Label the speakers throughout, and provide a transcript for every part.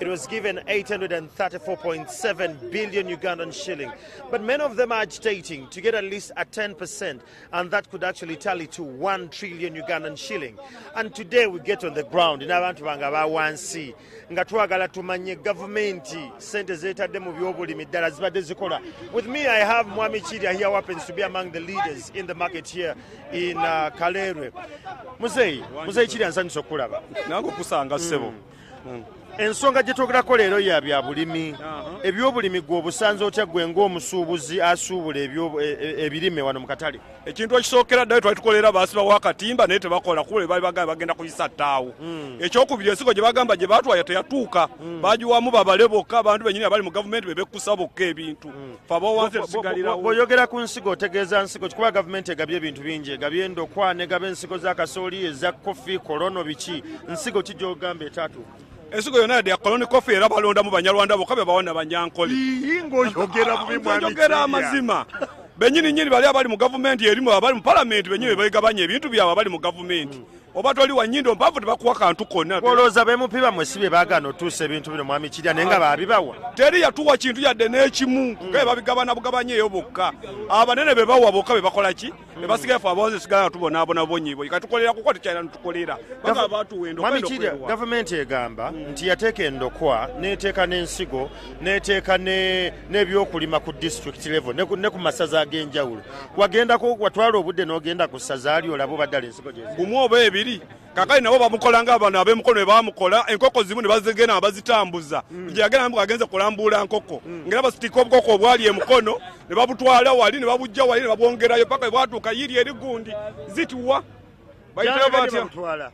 Speaker 1: It was given 834.7 billion Ugandan shilling. But many of them are agitating to get at least a 10%, and that could actually tally to 1 trillion Ugandan shilling. And today we get on the ground in abantu banga ba wansi nga twagala tumanye gavumenti sente zeetadde mu byobulimi ddala zibadde zikola. With me I have Mwami Chirya here happens to be among the leaders in the market here in uh, Kalerwe. Muzeyi, Muzeyi Chirya nsanyusa okulaba. Nange okusanga
Speaker 2: ssebo. Mm. Hmm. ensonga
Speaker 1: gye twogerako leero ya bya bulimi uh-huh. ebyobulimi gwe obusanze otya gwe ng'omusuubuzi asuubula e, e, ebirime wano mu katale ekintu ekisookera ddayo
Speaker 2: twali tukolera baasibawo akatimba naye tebakola kuba bali bagamba bagenda kuyisa ttaawo hmm. ekyokubiri ensigo gye bagamba gye batwaya teyatuuka hmm. bagiwamu babale bokka abantu benyini abali mu gavumenti bebekkusa bokka ebintu hmm. bwoyogera ku nsigo
Speaker 1: otegeeza nsigo kikuba gavumenti egabye ebintu bingi egabye endokwa negaba ensigo za kasooli eza kofi kolono biki nsigo ki gyogamba etaatu ensigo yona yadde
Speaker 2: yakoloni kofi era balondamu banyarwanda boka bebawa nabanyankole
Speaker 1: oyogera amazima
Speaker 2: benyini nyini bali abali mu gavumenti erimu abali mu palamenti benyini bebegabanya ebintu byabwe abali mu gavumenti mm. oba toli wanyindo mpavu tebakuwa kantu konna olowooza bemupiba mwe
Speaker 1: si bye bagana otuusa ebintu bino mwami kirya naye nga babibawa teri yatuwa kintu
Speaker 2: yadde n'ekimu nga be babigabana bugabanya eyo bokka abanene be bawa bokka be bakola ki be basigaye fe abawozi sigala tubonaabona bonyibonyi katukolera kuko tekyalina nutukolera baga batuwa endokmamikiria gavumenti
Speaker 1: egamba mm. nti yateeka endokwa neteeka n'ensigo neteeka n'ebyokulima ku district level ne ku masaza ag'enjawulo wagendako watwala obudde n'ogenda ku ssazaali olaba obaddala ensigo gumu oba ebiri
Speaker 2: kakali nabo bamukola nga abano abemukono bebamukola enkoko zimu nebazigenda nga bazitambuza mm. gyeyagenda namuko agenze kulambuula nkoko mm. ngaera basitika obukoko obwali emukono ne babutwala wali ne babujja wali ne babwongerayo paka bwatuuka yiri eri gundi zituwa bayitaba batya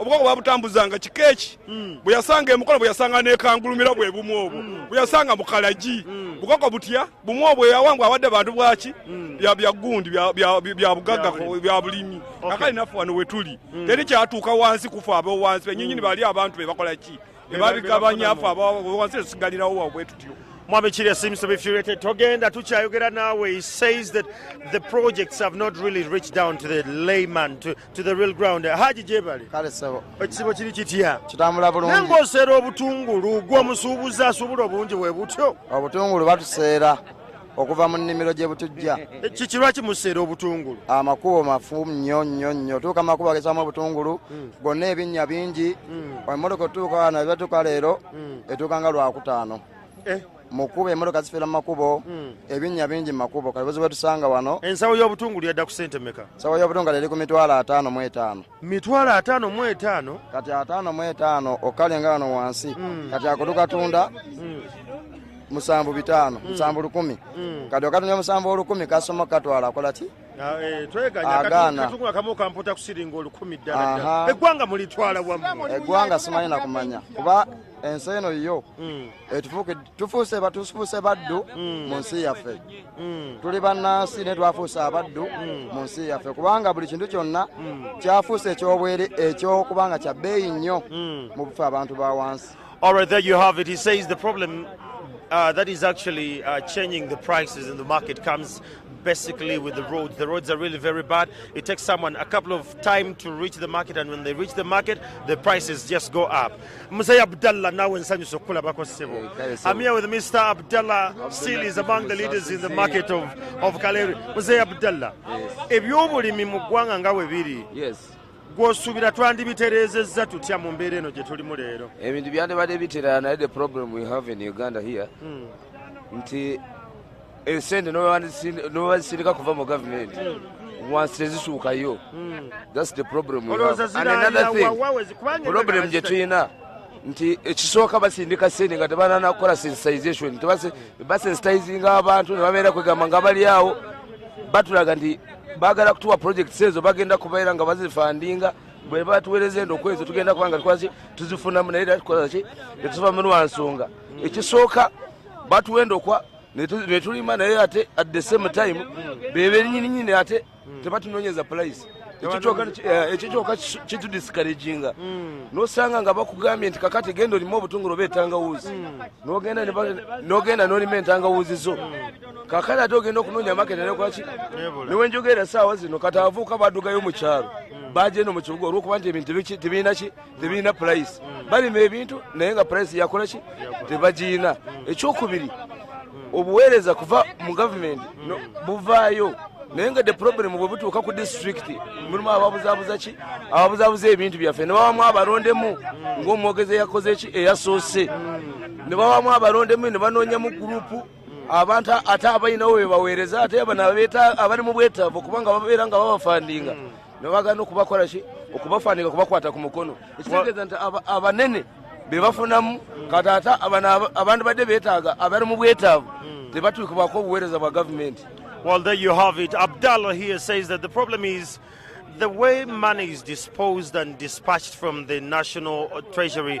Speaker 1: obukoko babutambuzanga
Speaker 2: kika eki mm. bwe yasanga emukono bwe yasanga nekangulumira bwe bumu obwo mm. bwe yasanga mukalagi mm. bukoko butya bumu obwo yawangwa awadde bantu bwaki byagundi byabugagga bya bulimi akali naffe wano wetuli teri kyatuuka wansi kufa abewansi benyinyini bali abantu bebakola ki ebabigabanyafu abawansi esigalirawo wabwe tutyo Mwami Chile seems to
Speaker 1: be furiated. Togenda tuchayogera nawe. He says that the projects have not really reached down to the layman to to the real ground haji jebale kale sebo ekisibo
Speaker 3: kiri kitya
Speaker 1: kitambula bulungi nange
Speaker 3: oseera obutungulu
Speaker 1: gwe omusuubuzi asuubula obungi bwe butyo obutungulu batuseera
Speaker 3: okuva mu nnimiro gye butujja eh, kiki lwaki museera
Speaker 1: obutungulu amakubo mafu
Speaker 3: nnyo nnyo nnyo tuuka amakubo agesamu obutungulu hmm. gonna ebinnya bingi hmm. emotoka otuuka wano ebatuuka leero hmm. etuuka nga lwakutaano eh. mukuba emotoka zifera mumakubo hmm. ebinya bingi mumakubo kati buzibu etusanga wano ensawo yobutungulu yadda
Speaker 1: ku sente meka ensawo yobutungulu eri ku
Speaker 3: mitwalo ataano mu etaano mitwalo ataano mu
Speaker 1: etaano kati ataano
Speaker 3: mu etaano okukale nga wano wansi hmm. kati akutukatunda hmm. musanvu bitaano musanvu lukumi kati okatunda musanvu olukumi kasoma katwala akola ki
Speaker 1: Ah, eh, eggwanga simanyi nakumanya
Speaker 3: kuba ensi eno yo hmm. Eh, tufuuse batufuuse baddu mm. mu nsi yaffe mm. tuli bannansi naye twafuuse abaddu mm. mu nsi yaffe kubanga buli kintu kyonna kyafuuse ekyobwere ekyokuba nga kya bbeeyi nnyo mu bufe abantu ba wansi All right, there you have
Speaker 1: it. He says the problem uh, that is actually uh, changing the prices in the market comes basically with the roads. The roads are really very bad. It takes someone a couple of time to reach the market, and when they reach the market, the prices just go up. Mzee Abdallah nawe nsanyuse okukulabako ssebo. Eh, I'm here with Mr. Abdallah Seal is among the leaders in the market of, of Kaleri. Mzee Abdallah, ebyobulimi mu ggwanga nga we biri
Speaker 4: gwosuubira
Speaker 1: twandibitereezezza tutya mu mbeera eno gye tulimu leero? Ebintu byandibadde bitera
Speaker 4: naye the problem we have in Uganda here hmm. nti esente nobazisindika kuva mu gavumenti wansi tezisuukayo hmm. thats the problem and another thing problem gye tulina nti ekisooka basindika sente nga tebanana kukola sensitization basensitizinga abantu nebabeera kwegamba nga bali awo batulaga nti bagala kutuwa projects ezo bagenda kubeera nga bazifandinga bweba tuwereza endo kwezo tugenda kubanga tukwaki tuzifunamu naye era tukola ki tetuva mu lwansonga ekisooka batuwenda okwa netulima naye ate at the same time bebenyininyini ate tebatunonyeza price ekyo kyoka kitudiscouraginga hmm. nosanga nga bakugambye nti kakati genda olima obutungulu oba etangawuuzi hmm. nogenda nolima entangawuuzi zo hmm. kakati ate ogenda okunonya maketa nekwaki newenjogera saawa zino kati avuuka badugayo mukyalo bajeno mukibuga olwokuba nti ebintu tebirina ki tebirina purayisi balima ebintu naye nga purayisi yakola ki tebagirina ekyokubiri obuweereza kuva mu gavumenti buvaayo naye nga the problem bwe butuuka ku disitulikiti mulimu ababuzabuza ki ababuzabuza ebintu byaffe ne bawamu abalondemu ng'omwogezi eyakoze ki eyasoose ne bawamu abalondemu ne banoonyamu gurupu abantu ate abalinawo bebaweereza ate bano abali mu bwetaavu kubanga babeera nga babafandinga nebagana okubakola ki okubafanika okubakwata ku mukono ekitegeeza nti abanene bebafunamu kati ate abantu badde betaaga abali mu bwetaavu hmm. tebatuukibwako obuweereza bwa gavumenti Well, there you have
Speaker 1: it. Abdallah here says that the problem is the way money is disposed and dispatched from the national treasury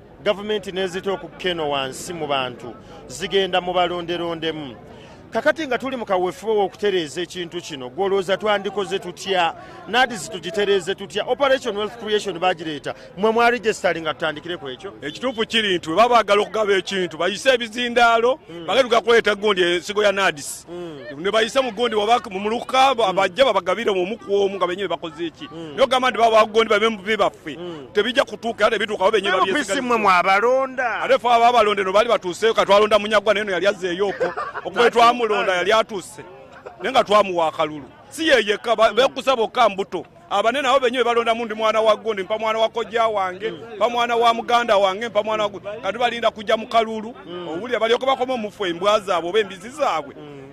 Speaker 1: gavumenti nezita okukeno wansi mu bantu zigenda mu balonderondemu kakati nga tuli mu kaweefube w'okutereeza ekintu kino gwolowooza twandikoze tutya nadis tugitereeze tutya operation wealth creation bagireeta mwe mwali gesitali nga tutandikire ku ekyo ekituufu kiri nti weba
Speaker 2: baagala okugaba ekintu bayise ebizindaalo mm. bagenda tugakuleeta gundi ensigo ya nadis mm. ne bayise mu gundi mumuluka mm. abajja babagabire omu ku omu nga benyini bakoze eki mm. naye ogamba nti baba bagundi babe mubi baffe mm. tebijja kutuuka era tebituukawo benye babyesimwe mwabalonda
Speaker 1: ate fe aba abalonde no
Speaker 2: baali batuuseyo katwalonda munyagwa naye no yali azzeeyoko okuba etwamulonda yali atuuse naye nga twamuwa akalulu si yeyekka bekusa bokka mbuto abane nabo benye bebalondamu ndi mwana wa gundi mpa mwana wa kojja wange mpa mwana wa muganda wange mpa mwana wa kati balinda kujja mu kalulu mm. owulira balyoke bakoma omufu embwa zaabwe oba embizi zaabwe mm.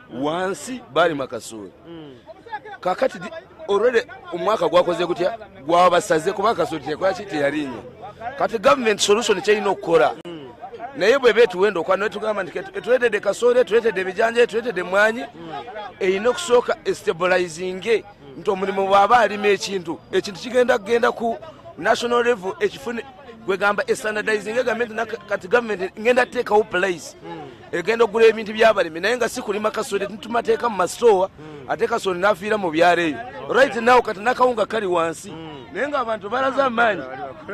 Speaker 4: wansi balima kasooli mm. kakati olwede omwaka gwakoze gutya gwabasaze kuba kasooli tekolaki teyalinya kati government solution kyerina okukola mm. naye bweba etuwenda okwa netugamba nti etuletedde kasooli etuletedde ebijanja etuletedde mwanyi mm. erina okusooka estabilizinge nti omulimu bwaba alima ekintu ekintu kigenda kugenda ku national level ekifune gwegamba estandardizing egamenti kati government ngenda teekawo place egenda okugula ebintu byabalimi naye nga sikulima kasoli tumateeka mu masitoowa hmm. ate kasoli nafiira mu byaleeyo right now kati nakawunga kali wansi hmm. naye nga abantu balaze amaanyi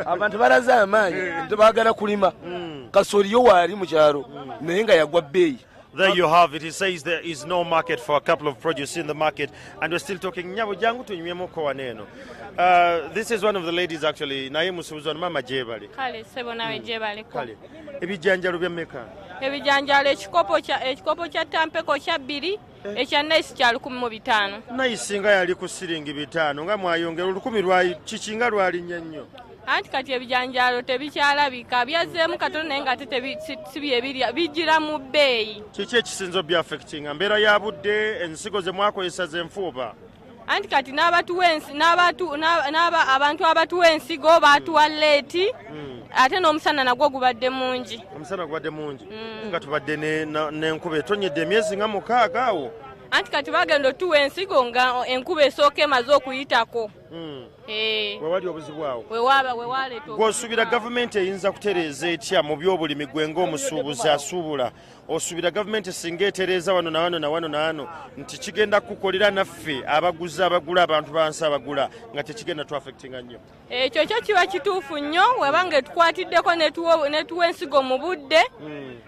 Speaker 4: abantu balaze amaanyi hmm. tebagala kulima kasoli yo waali mu kyalo naye nga yagwa bbeeyi There you have it.
Speaker 1: He says there is no market for a couple of produce in the market, and we're still talking. Nyabo jangu tunywemoko waneno. Uh, this is one of the ladies actually. Naye musubuzo mama jebali. Kale sebo nawe
Speaker 5: jebali. Kale.
Speaker 1: ebijanjalo bya meka ebijanjalo
Speaker 5: ekikopo kya ekikopo kya tampeko kya bbiri eh. ekya nice kya lukumi mu bitaano nice nga yali
Speaker 1: ku siringi bitaano nga mwayongera olukumi lwayi kiki nga lwalinnya nnyo anti kati
Speaker 5: ebijanjalo tebikyalabika byazzeemu katono naye nga tetebiebirya bijira mu bbeeyi kiki ekisinza
Speaker 1: obyafectinga mbeera ya budde ensigo ze mwakozesa zenfuuba anti kati
Speaker 5: abantu abatuwa ensigo baatuwa leeti hmm. ate n'omusana nagwo gubadde mungi omusana gubadde mungi
Speaker 1: hmm. nga tubadde n'enkuba etonyedde emyezi nga mukaaga awo
Speaker 5: anti kati bagenda otuwa ensigo nga enkuba esooka emaze okuyitako hmm.
Speaker 1: eh. wewali obuzibu awo
Speaker 5: gwosubira gavumenti
Speaker 1: eyinza kutereeza etya mu byobulimi gwe ngaomusuubuzi asuubula osubira gavumenti singa etereeza wano na wano na wano na wano nti kigenda kukolera naffe abaguzi abagula abantu bansi abagula nga tekigenda tuafectinga nnyo ekyo kyo kiba
Speaker 5: kituufu nnyo weba nga etukwatiddeko netuwa ensigo mu budde hmm.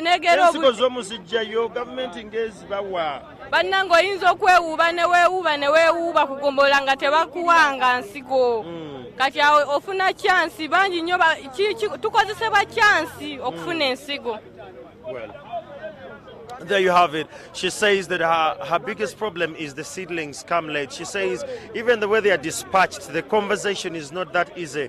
Speaker 5: negerensigo
Speaker 1: zomuzijjayo gavumenti ngezibawa bannange oyinza
Speaker 5: okwewuuba ne weewuuba ne weewuuba ku gombolola nga tebakuwanga nsigo mm. kati awo ofuna kyansi bangi nnyo tukozesebwa kyansi okufuna ensigo
Speaker 1: There you have it. She says that her, her biggest problem is the seedlings come late. She says even the way they are dispatched, the conversation is not that easy.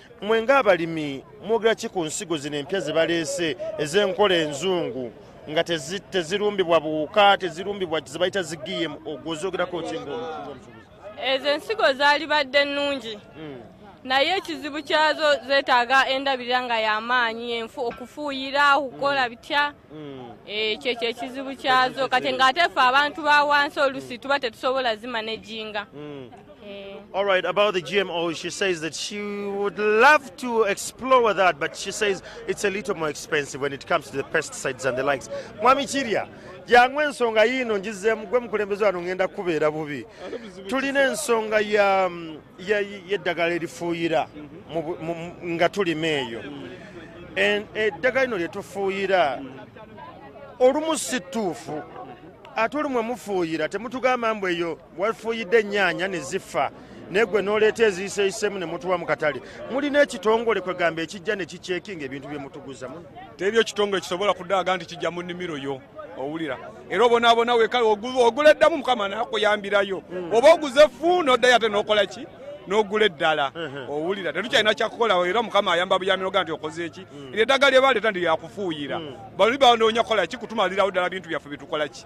Speaker 1: Mwe ng'abalimi mwogera ki ku nsigo zino empya ze baleese ez'enkola enzungu nga tezirumbibwa buwuka tezirumbibwa ze bayita zi gm ogwozoogerako ki ezo ensigo
Speaker 5: zaali badde ennungi hmm. naye ekizibu kyazo zeetaaga endabirira nga y'amaanyi enfu okufuuyira okukola hmm. bitya hmm. Eh, kyekyo ekizibu kyazo kati ng'ate ffe abantu ba wansi olusi tuba tetusobola zimanejinga
Speaker 1: Eh. All right, about the GMO, she says that she would love to explore that, but she says it's a little more expensive when it comes to the pesticides and the likes. Mwami Chiria, jangu ensonga yiino ngizeemu gwe mukulembeze wano ngenda kukubeera bubi tulina ensonga yeddagala erifuuyira nga tulima eyo eddagala lino lyetufuuyira olumu si ttuufu ate olumu emufuuyira temutugamba mbu eyo Wafuuyidde ennyaanya ne zifa naye gwe n'oleeta eziyiseeyisemu ne mutuwa mu katale mulina ekitongole kwegamba ekijja ne kikyekinga ebintu bye mutuguza muno tebyo ekitongole kisobola
Speaker 2: kudaaga nti kijja mu nnimiro yo owulira era obonaabona wekale ogula eddamu mukama nakuyambirayo hmm. oba oguze fu n'oddayo ate n'okola ki n'ogula eddala owulira tetukyalina kyakukolawo era mukama ayamba buyaminoga nti okoze eki mm. eryo eddagala lyebaleeta nti lyakufuuyira mm. bali banoonya kukola ki kutumalirawo ddala bintu byaffe byetukola ki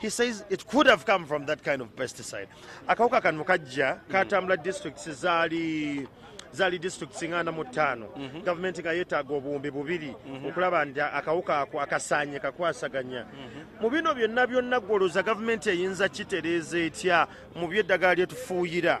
Speaker 1: He says it could have come from that kind of pesticide. Akawuka kano kajja katambula districts zaali zali districts nga ana mu ttaano mhm. gavumenti nga yeetaaga obuwumbi bubiri mhm. okulaba nti akawuka ako akasaanye kakwasaganya mhm. mu bino byonna byonna gwolooza gavumenti eyinza kitereeza etya mu byeddagala lyetufuuyira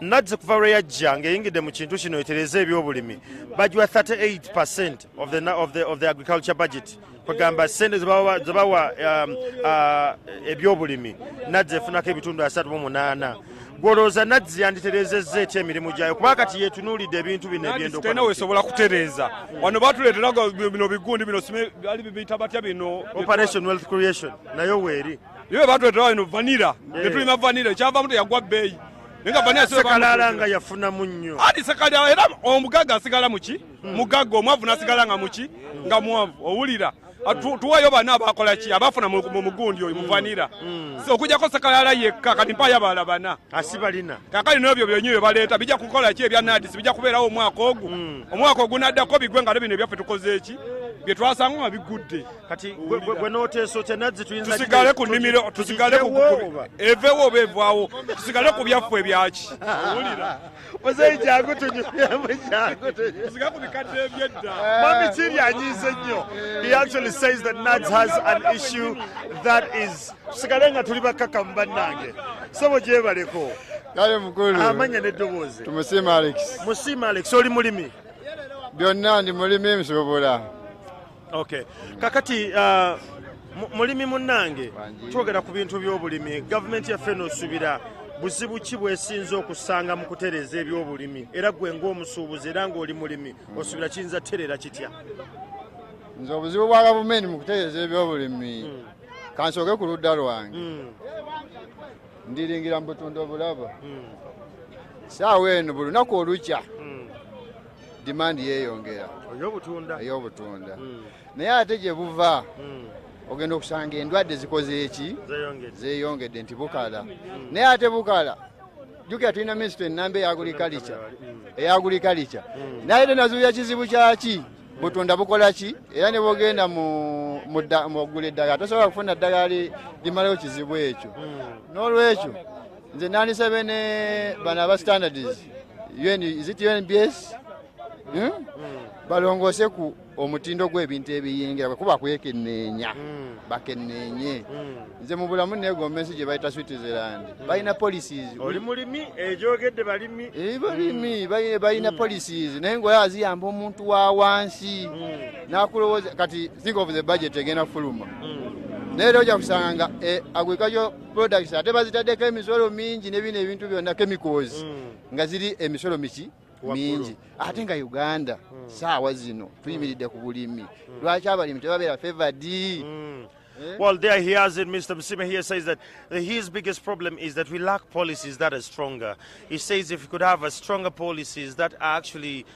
Speaker 1: Nadzi kuva lwe yajja ng'eyingidde mu kintu kino etereza ebyobulimi bagiwa 38 percent of the, of the, of the agriculture budget kwegamba sente zebawa um, uh, ebyobulimi nadzi efunako ebitundu asatu mu munaana gwolowooza nadzi yanditerezezza etya emirimu gyayo kuba kati yetunuulidde ebintu bino ebyendokna wesobola
Speaker 2: kutereeza wano batuleetera bino bigundi bino ali bibiyita batya bino operation wealth creation
Speaker 1: nayo weeri yo batuleetera bino
Speaker 2: vanira netulima vanira ekyavamu teyagwa bbeeyi sekalala
Speaker 1: nga yafuna munyo ati sekalala era
Speaker 2: omugaga asigala muki hmm. mugaga omwavu nasigala nga muki hmm. nga mwavu owulira ah, tuwayo bana abakola ki abafuna mu mugundi oyo hmm. muvanira okujako sekalala yekka kati mpayo abala bana asibalina kakali
Speaker 1: nobyo byonyo
Speaker 2: byebaleeta bija kukola ki ebya nadisi bija kubeerawo omwaka ogu omwaka ogunaddako bigwe nga no bino ebyaffe tukoze eki byetwasanga nga bigudde kati gwe
Speaker 1: noteesa otya nazzi tuyinza tusigale ku nimiro
Speaker 2: tusigale ku evewo oba evwawo tusigale ku byaffe ebyaki muzeyi jangu
Speaker 1: tunyuyamujangutusigale ku bikadde
Speaker 2: ebyedda eh. mami kiri
Speaker 1: anyiize nnyo he actually says that nads has an issue that is tusigale nga tuli bakkakamu bannange sebo gyebaleko kale mukulu
Speaker 6: amanya n'eddoboozi
Speaker 1: tumusiima alex
Speaker 6: musiima alex oli
Speaker 1: mulimi byonna
Speaker 6: ndi mulimi nsobola okay
Speaker 1: kakati uh, mulimi munnange twogera ku bintu by'obulimi gavumenti yaffe nosubira buzibu ki bwesinza okusanga mu kutereeza ebyobulimi era gwe ngaomusuubuzi era ngaoli mulimi osubira kiyinza terera kitya
Speaker 6: nze obuzibu bwa gavumenti mu kutereeza ebyobulimi hmm. kansooke ku ludda lwange hmm. ndiringira mu butunda obulaba hmm. saawa eno buli lunaku olukya demand yeyongera eyobutunda hmm. naye ate gye buva hmm. ogenda okusanga endwadde zikoze eki zeyongedde nti bukala hmm. naye ate bukala jukira tulina minisito enamba eyagurikalica eyagurikalica naye tenazuuya kizibu kyaki butunda bukola ki era ne bwogenda mugula eddagala tosobola kufuna ddagala limalayo kizibu ekyo hmm. n'olwekyo nze nandisabye ne bano aba standards UN, is it unbs hmm? mm. balongoose ku omutindo gw'ebintu ebiyingira bwekuba kwekenneenya mm. bakenneenye mm. nze mu bulamu neegomba ensi gye bayita switzerland mm. balina policies oli mulimi
Speaker 1: egyogedde eh, balimi eh, balimi mm. balina mm.
Speaker 6: policies naye ngaoyo aziyamba omuntu wa wansi mm. nakulowooza kati think of the budget egenda kufuluma mm. naye era ojja kusanga nga eh, agwekayo products ate bazitaddeko emisolo mingi nebino ebintu byonna chemicals mm. nga ziri emisolo miki mingi ate nga uganda mm. saawa zino tuyimiridde ku bulimi mm. lwaki abalimi tebabeera favored mm.
Speaker 1: Eh? Well, there he has it. Mr. Msime here says that his biggest problem is that we lack policies that are stronger. He says if we could have a stronger policies that are actually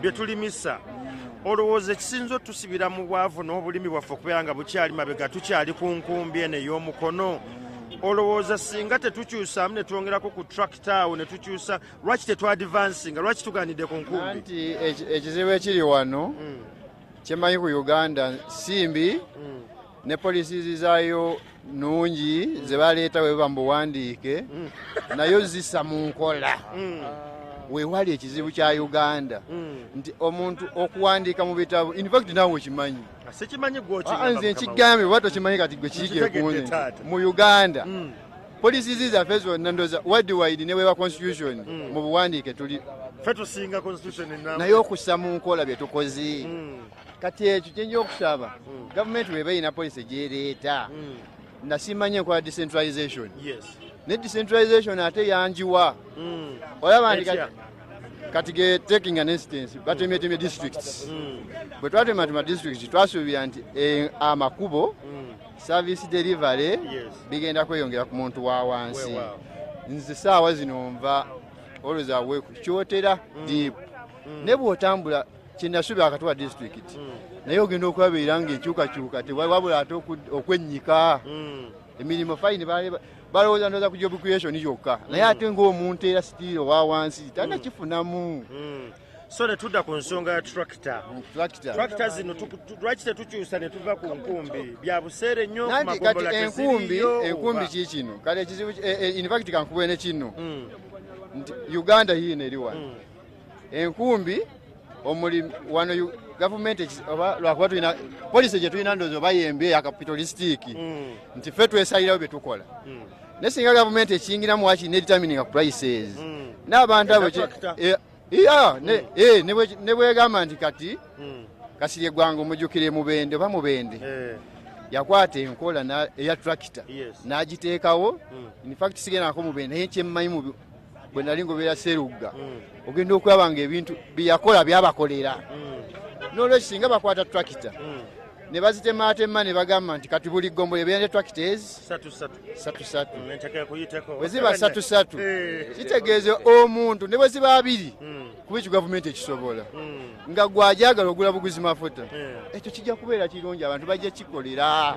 Speaker 1: bye tulimisa olowooza ekisinza otusibira mu bwavu n'obulimi bwaffe okubeera nga bukyali mabega tukyali ku nkumbi eno ey'omukono olowooza singa tetukyusaamu ne twongerako ku trakt awo ne tukyusa lwaki tetwadivansinga lwaki tuganidde ku nkumbi nti ekizibu
Speaker 6: ekiri wano hmm. kyemanyi ku uganda simbi hmm. ne policies zaayo nungi mm. zebaleeta weba mubuwandiike mm. nayo zisa mu nkola mm. wewali ekizibu kya uganda mm. nti omuntu okuwandiika mu bitabu infact nawe okimanyi ah,
Speaker 1: nze nkigambye
Speaker 6: oba tokimanyi kati gwe kiigekunze mu uganda mm. policies zaffe zonna ndoza wadiwide ne weba constitution mm. mu buwandiike tuli
Speaker 1: naye okussa mu
Speaker 6: nkola bye tukoze mm. kati ekyo kyenja okusaba mm. gavumenti weba erina policy gyereeta mm. nasimanya enkola decentralization ne decentralization ate yanjiwa mm. olaba nti kati ge taking an instance batemetemye districts bwe twatematema districts twasuubira nti eh, amakubo service delivery bigenda kweyongera ku muntu wa wansi nze saawa zino nva always awake kyotera deep ne bwotambula kyenasubi akatuwa disitulikiti hmm. naye ogenda okulabeera nga enkyukakyuka tewabula ate okwennyika hmm. emirimu fayini balowooza ndoza ku job creation yokka naye hmm. ate ngaomuntu era sitiiri owa wansi talina kifunamu so
Speaker 1: netudda ku nsonga ya tracta tracta zino lwaki tetukyusa netuva ku nkumbi bya buseere nnyo enkumbi enkumbi kikino
Speaker 6: kale ekizibu eh, eh, infact kankubeene kino nti uganda yiino eri wano enkumbi omuli wano gavumenti lwakuba tulina polisi gye tulina ndoozi oba yembi eya kapitalisitiiki mm. nti ffe twesalirawo bye tukola mm. naye singa gavumenti ekiyingiramu waki nedetermininga prices mm. n'abantu abo eh, eh, ne bwegamba nti kati kasiri eggwanga omujukira emubende oba mubende eh. yakwata enkola eya tractor n'agiteekawo infact sigenako mubende naye kyemmanyi bwe nali ngobeera serugga mm. ogenda okulaba nga ebintu byeyakola byabakolera mm. nolwekyo singa bakwata tractor mm. ne bazitemaatema ne bagamba nti kati buli ggombole ebeera ne tractor ezi satusatu bwe ziba satusatu eh. kitegeeza omuntu ne bwe ziba abiri kuba ekyo gavumenti ekisobola nga gwajagala ogula buguzi mafuta eh. ekyo kijja kubeera kirungi abantu bajja kikolera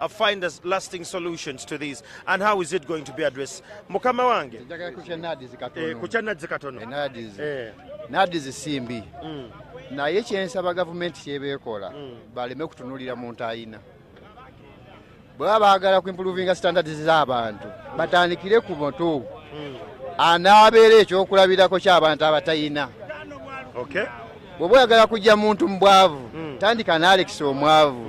Speaker 1: uh, find us lasting solutions to these and how is it going to be addressed mukama wange eh, kukya nadzi katono eh. nadzi eh.
Speaker 6: zisimbi mm. naye kyensaba gavumenti kyebeekola mm. baleme kutunulira muntu ayina bweba baagala ku improvinga standards z'abantu batandikire ku mutu mm. anaabeera ekyokulabirako ky'abantu abatayina bweba oyagala kujja muntu mu bwavu tandika naalekisa omwavu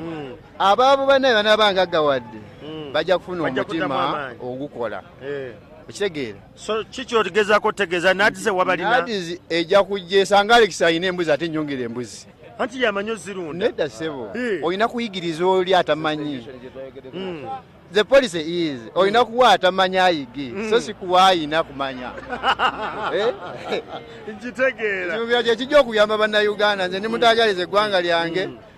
Speaker 6: abaavu banaye banaba ngaggawadde hmm. bajja kufuna omutima ogukola eh. okitegeera so kiki
Speaker 1: otigezako otegeeza nadize wabalinadizi ejja
Speaker 6: kujja esanga alekisi alina embuzi ate nyongera embuzi anti yamanyi
Speaker 1: ozirunda nedda sebo eh.
Speaker 6: olina kuyigiriza oli atamanyi hmm. the policy is olina hmm. kuwa atamanya ayige so hmm. sikuwa ayina kumanya eh?
Speaker 1: nkitegeera kyekijja okuyamba
Speaker 6: bannayuganda nze nimutagaliza eggwanga lyange